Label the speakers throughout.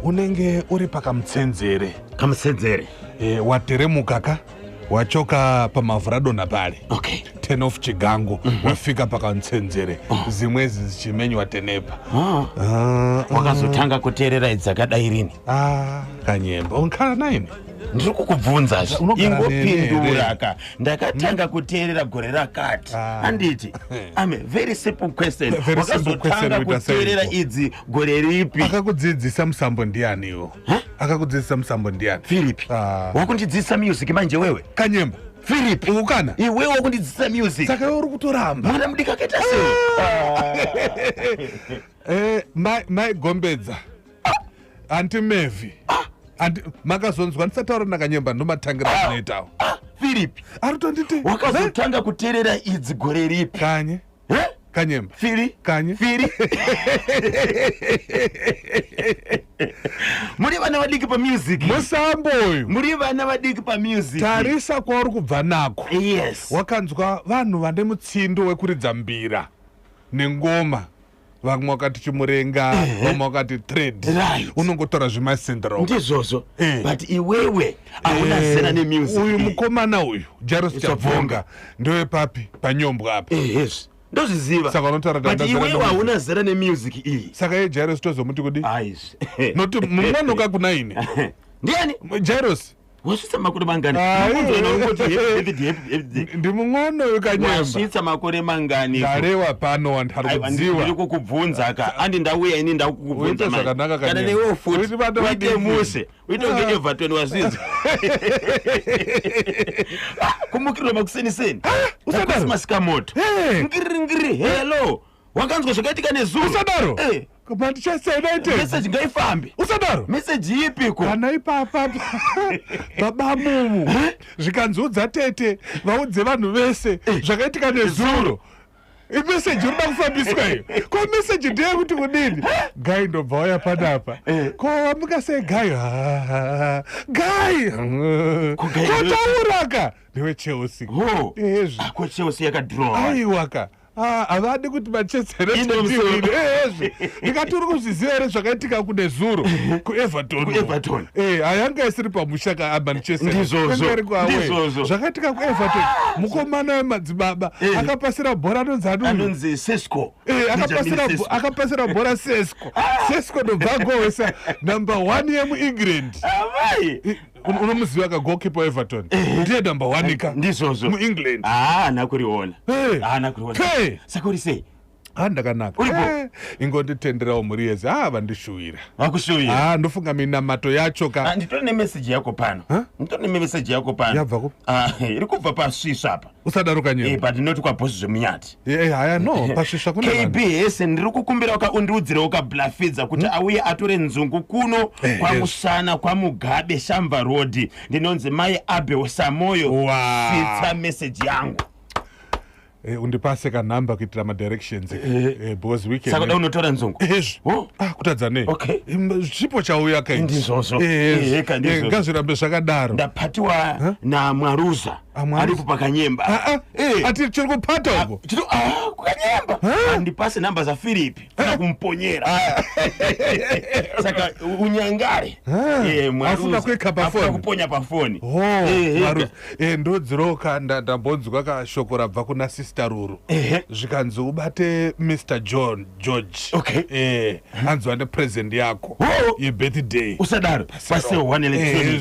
Speaker 1: unenge uri pakamutsenzere kamutsenzere
Speaker 2: e, wateremuka
Speaker 1: ka wachoka pamavhuradonha pale okay. ten of
Speaker 2: chigango
Speaker 1: mm -hmm. wafika pakamutsenzere oh. zimwe zichimenywa tenepa ah. ah,
Speaker 2: wakazotanga ah, uh, uh, kuteerera idzakadai rini ah, kanyemba
Speaker 1: unkhala naini ndiri kukubvunza
Speaker 2: zve ingopinduraka ndakatanga kuteerera gore rakati ah. handiti ame very simple question wakazotanga kuteerera idzi gore ripi akakudzidzisa musambo
Speaker 1: ndianiwo akakudzidzisa musambo ndiani philip ah.
Speaker 2: wakundidzidzisa music manje wewe kanyemba philip
Speaker 1: ukana
Speaker 2: iwe
Speaker 1: wakundidzidzisa
Speaker 2: music saka iwe uri kutoramba
Speaker 1: mwana mudiki akaita
Speaker 2: sei ah.
Speaker 1: eh, mai gombedza anti mevi ah. makazonzwa ndisataura ndakanyemba ndomatangira anoitawo philip
Speaker 2: arutonditi
Speaker 1: wakazotanga
Speaker 2: kuterera idzi gore ripi kanye Eh?
Speaker 1: kanyemba firi kanye firi
Speaker 2: muri vana vadiki pamusic musambo uyu
Speaker 1: muri vana vadiki
Speaker 2: pamusic tarisa kwauri
Speaker 1: kubva nako yes wakanzwa
Speaker 2: vanhu
Speaker 1: vane mutsindo wekuridza mbira nengoma vamwe wakati chimurenga vamwe wakati thread Right. unongotora zvemasendro ndizvozvo Eh.
Speaker 2: but iwewe hauna zera uyu nemusic mukomana
Speaker 1: uyu jaros It's a chabvonga ndewepapi panyombwa apa ehezvi ndozviziva
Speaker 2: Saka unotaura kuti but handina
Speaker 1: zera iwewe nemusic. hauna
Speaker 2: zera nemusic iyi saka ye jaros tozomuti
Speaker 1: kudi aizvi noti
Speaker 2: mumwe
Speaker 1: anoka kunaine ndiani
Speaker 2: jaros
Speaker 1: wasvitsa makore
Speaker 2: mangani
Speaker 1: ndimumwana uyu kanyewasvitsa makore
Speaker 2: mangani ndarewa pano
Speaker 1: wandikuziwairi kukubvunza ka
Speaker 2: andi ndauya ini ndakukubvunza zvakanaka kana newe
Speaker 1: futi
Speaker 2: uite muse uite kunge ah. evatoni wazvinzi ah, kumukirwa makuseniseni ah, usadaro masikamoto ngiri ngiri hello wakanzwa zvakaitika nezuro usadaro Eh.
Speaker 1: manchester united message ngaifambe
Speaker 2: usadaro message
Speaker 1: ipi ko
Speaker 2: kana ipapa
Speaker 1: babamumu zvikanzi udza tete vaudze vanhu vese zvakaitika nezuro imeseji urida kufambiswa iyo ko meseji ndeye kuti kudini gai ndobva waya panapa Eh. ko wamuka sei gai "Ah, gai Ko Guy kotauraka ndiwe chelsea Ho. ezvi ko chelsea
Speaker 2: yakadrowa aiwaka
Speaker 1: Ah, havadi kuti machezerendikati uri kuzviziva here zvakaitika kune zuro kuevertonkueverton eh, hayanga isiri pamusha kamanchesterdizvozvo
Speaker 2: zvakaitika
Speaker 1: kueverton ah! mukomana wemadzibaba eh. akapasira bhora anonzi anonzi sesco
Speaker 2: eh,
Speaker 1: akapasira bhora sesco ah! sesco ndobva agowesa number one yemuengland unomuziva ka goalkeeper weeverton eh. ndiye number one ka ndizvozvo muengland
Speaker 2: haana
Speaker 1: ah, kuriona
Speaker 2: eh. haana kuriona saka uri sei ha ah, ndakanaka
Speaker 1: eh, ingonditenderawo mhuri yese ha ah, vandishuwira vakushuwira ha
Speaker 2: ndofunga minamato
Speaker 1: yacho ka nditori nemeseji yako
Speaker 2: pano nditori nemeseji yako
Speaker 1: pano yabva ku iri kubva
Speaker 2: pasvisva apa usadaro kanyero Eh, but
Speaker 1: not kwabosi zvemunyati
Speaker 2: Eh, eh, haya no
Speaker 1: pasvisva kune kb vanhu. hese ndiri kukumbirawo
Speaker 2: ka undiudzirewo ka blafidza kuti auye atore nzungu kuno Hmm? Eh, kwamusana kwamugabe shamva road ndinonzi mai abel samoyo Wow. svitsa meseji yangu Eh,
Speaker 1: undipase kanhamba kuitira madirections Eh, because weekend- saka da unotora nzungu
Speaker 2: Hezvi. Oh. Ah, kutadza
Speaker 1: nei Okay. Im- chipo
Speaker 2: chauya
Speaker 1: kaiti. Ndizvozvo. Eh, hezvi.
Speaker 2: Ehe, ka, ndizvozvo. Eh,
Speaker 1: ngazvirambe zvakadaro ndapatiwa
Speaker 2: namwaruza aripo pakanyemba ah, ah. Eh. ati tiri
Speaker 1: kupata uko ah, kukanyemba
Speaker 2: andipase namba zafiripi kana kumponyera saka unyangare eh, afuna
Speaker 1: kuika pafoni kuponya pafoni
Speaker 2: oh,
Speaker 1: eh, ndodziroka ndambonzwa kashoko rabva kuna sister ruru zvikanzi ubate mr john george
Speaker 2: anzwa nepresent
Speaker 1: yako oh. yebirthday usadaro
Speaker 2: pasewanele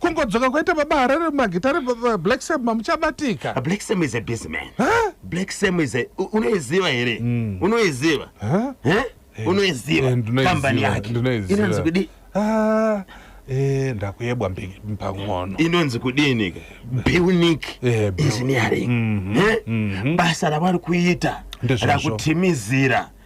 Speaker 1: kungodzoka kwaita baba harare magitare black sam mamuchabatika ah, black sam is a busy
Speaker 2: man huh? black sam is a unoiziva here mm. unoiziva huh? huh? Eh, unoiziva eh, kambani yake inonzi kudi ah, eh,
Speaker 1: ndakuyebwa pang'ono inonzi kudini
Speaker 2: building engineering mhm, mhm. basa ravari kuita rakutimizira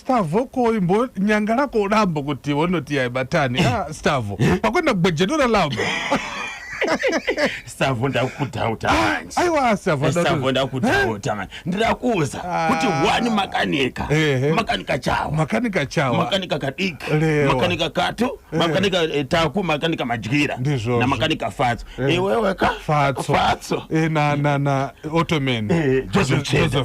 Speaker 1: Stavo ko imbo nyanga lako ulambo kuti wonoti yaibatani ah, Stavo pakwenda kugwejenura lambo
Speaker 2: Stavo ndakudhauta manje aiwa Stavo Eh, Stavo
Speaker 1: adaro-
Speaker 2: ndakudhauta manje ndirakuza Ah. kuti wani makanika Ehe. makanika chawa makanika chawa makanika kadiki Lewa. makanika katu makanika eh, taku makanika madyira Ndizvozvo. na makanika fatso iwewe ka fatso fatso Eh, na na na
Speaker 1: ottoman Eh, Joseph Cheda.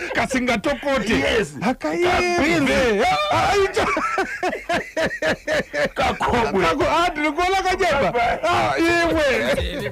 Speaker 1: kasingatokote Yes.
Speaker 2: Kabhinzi.
Speaker 1: kakobwe ndinokuona kanyama
Speaker 2: Bye-bye. Ah,
Speaker 1: iwe